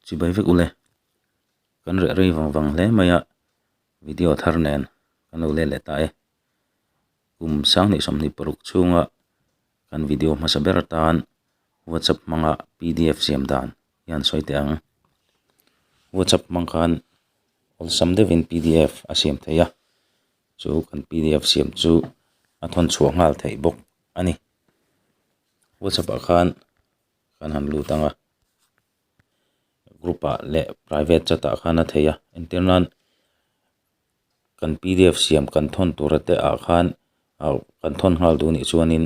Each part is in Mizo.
chibai vek ule kan reh rei vang vang hle mai a video thar nen kan lo let leh ta e kum sang leh sawmhnih paruk chhunga kan video hmasa ber atan whatsapp hmanga pdf siam dan hian sawi teh ang whatsapp hmang khan awlsam deuh in pdf a siam theih a chu kan pdf siam chu a thawn chhuah nghal theih bawk a ni whatsapp ah khan-- kan han lut ang a group ah leh private chat ah khan a thei a entir nan kan pdf siam kan thawn tur te ah khan kan thawn nghal duh nih chuan in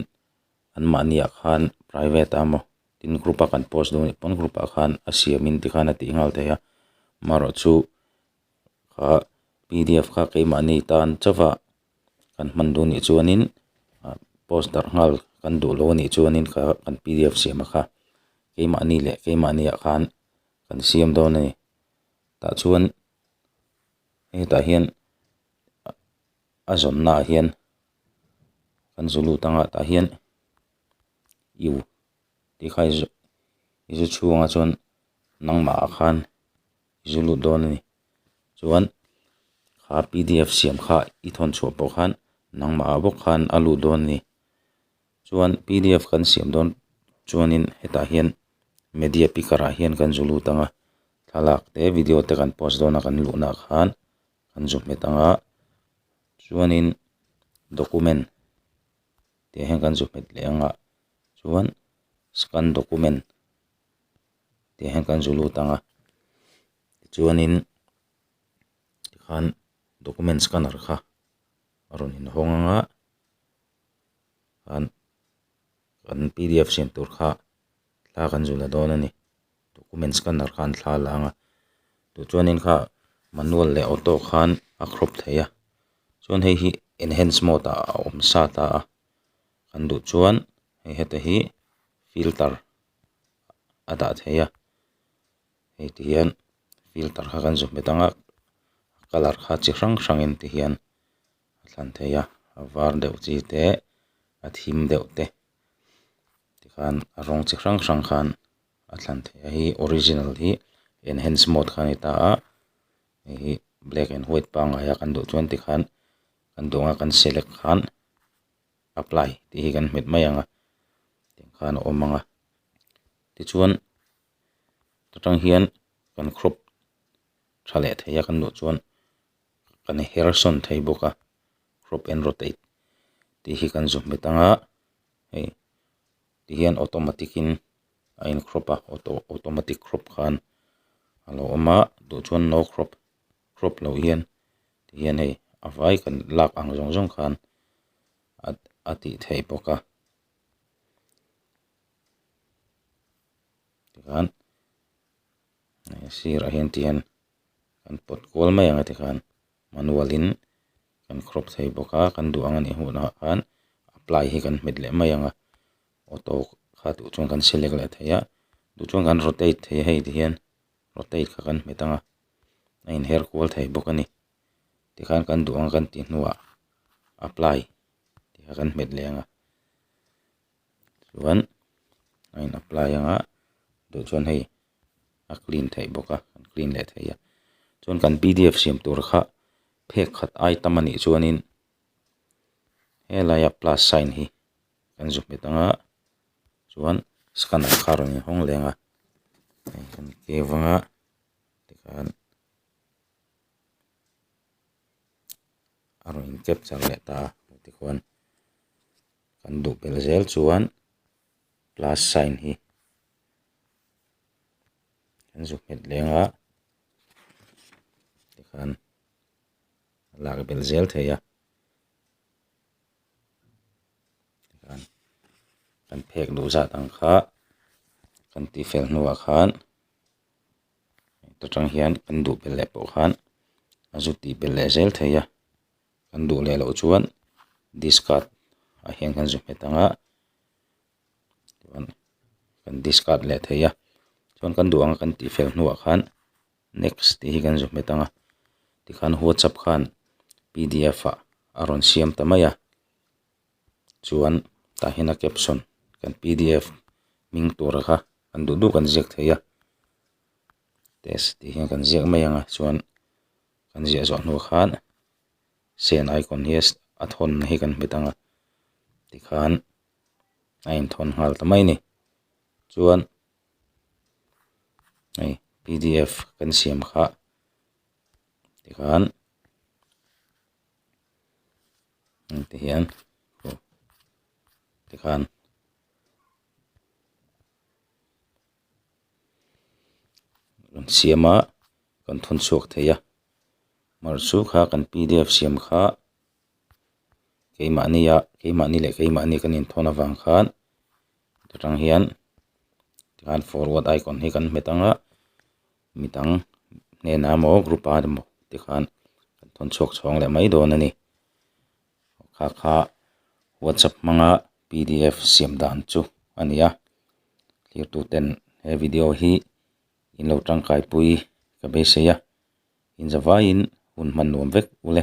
an mahni ah khan private a maw tin group ah kan post duh nih pawn group ah khan a siam in ti khan a tih nghal thei a amaherawhchu kha pdf kha keimahni tan chauh a. kan hman duh nih chuanin ah post darh nghal kan duh loh anih chuanin kha kan pdf siam a kha keimahni leh keimahnia khan kan siam dawn a ni tah chuan hetah hian a zawmna ah hian kan zu lut anga tah hian iu tihkha i zu i zu chhung a chuan nangmah ah khan-- i zu lut dawn a ni. Chuan kha pdf siam kha i thawn chhuah pawh khan nangmah ah bawk khan a lut dawn a ni. Chuan pdf kan siam dawn chuanin hetah hian media picker ah hian kan zu lut ang a, thlalak te video te kan post dawn a kan luhnaah khan kan zu hmet ang a. Chuanin document tih ah hian kan zu hmet leh ang a, chuan scan document tih hian kan zu lut ang a tichuanin tikhan document scanner kha a rawn inhawng ang a an an pdf siam tur kha thla kan zu la dawn a ni document scanner kha an thla la ang a tih chuanin kha manual leh auto khan a crop theih a chuan hei hi enhance mode ah a awm sa ta a kan duh chuan hei hete hi filter . a dah theih a hei ti hian filter kha kan zawm bet ang a colour kha chi hrang hrang in ti hian a thlan thei a a var deuh chi te a thim deuh te tikhan a rawng chi hrang hrang khan a thlan thei a hei hi original hi enhance mode kha a ni ta a hei hi black and white pangngai a kan duh chuan tikhan kan duh ang a kan select khan-- apply tih hi kan hmet mai ang a tiang khan a awm ang a tichuan ta tang hian kan crop tha leh thei a kan duh chuan kan her sawn thei bawk a crop and rotate tih hi kan zu hmet ang a hei tihian automatic in a in crop a auto automatic crop khan a lo awm a duh chuan no crop . crop loh hian tihian hei a vai kan lak ang zawng zawng khan a a tih theih bawk a tichuan a sirah hian tihian kan pawt kual mai ang a tikhan manual in kan crop thei bawk a kan duh ang a nih hunah khan apply hi kan hmet leh mai ang a auto kha duh chuan kan select leh thei a duh chuan kan rotate thei hei tihian rotate kha kan hmet ang a. a in her kual thei bawk a ni tikhan kan duh ang kan tih hnuah apply tih kha kan hmet leh ang a chuan a in apply ang a duh chuan hei a clean theih bawk a an clean leh thei a chuan kan p d f siam tur kha phek khat ai tam a nih chuan in helai a plus sign hi kan zuk hmet ang a chuan scanner kha a rawn inhawng leh ang a hei kan ke vang a. tikhan a rawn in capture leh ta a hmu tichuan kan duh ber zel chuan plus sign hi kan zuk nghet leng a tikhan a lak ber zel thei a tikhan kan phek duh zat ang kha kan tihfel hnuah khan. ta tang hian kan duh bel leh pawh khan a zu ti bel leh zel thei a kan duh leh loh chuan discard ah hian kan zu hmet ang a chuan kan discard leh thei a chuan kan duh ang a kan tih fel hnuah khan next tih hi kan zu hmet ang a tikhan whatsapp khan pdf ah a rawn siam ta mai a. chuan tah hian a caption kan pdf hming tura kha kan duh duh kan ziak thei a test tih hian kan ziak mai anga chuan kan ziah zawh hnu khan send icon hi a thawn na hi kan hmu dang a tikhan a inthawn nghal ta mai a ni chuan hei pdf kan siam kha tikhan. hengte hian aw tikhan rawn siam a kan thawn chhuak thei a mar chu kha kan p d f siam kha keimahni a keimahni leh keimahni kan inthawn avang khan chu tang hian tikhan forward icon hi kan hmet ang a. mi dang hnena emaw group a emaw te khan kan thawn chhuak chhuang leh mai dawn a ni kha kha whatsapp hmanga pdf siam dan chu a ni a thirtu ten he video hi in lo tangkai pui ka beisei a inzavaiin hun hman nuam vek u le.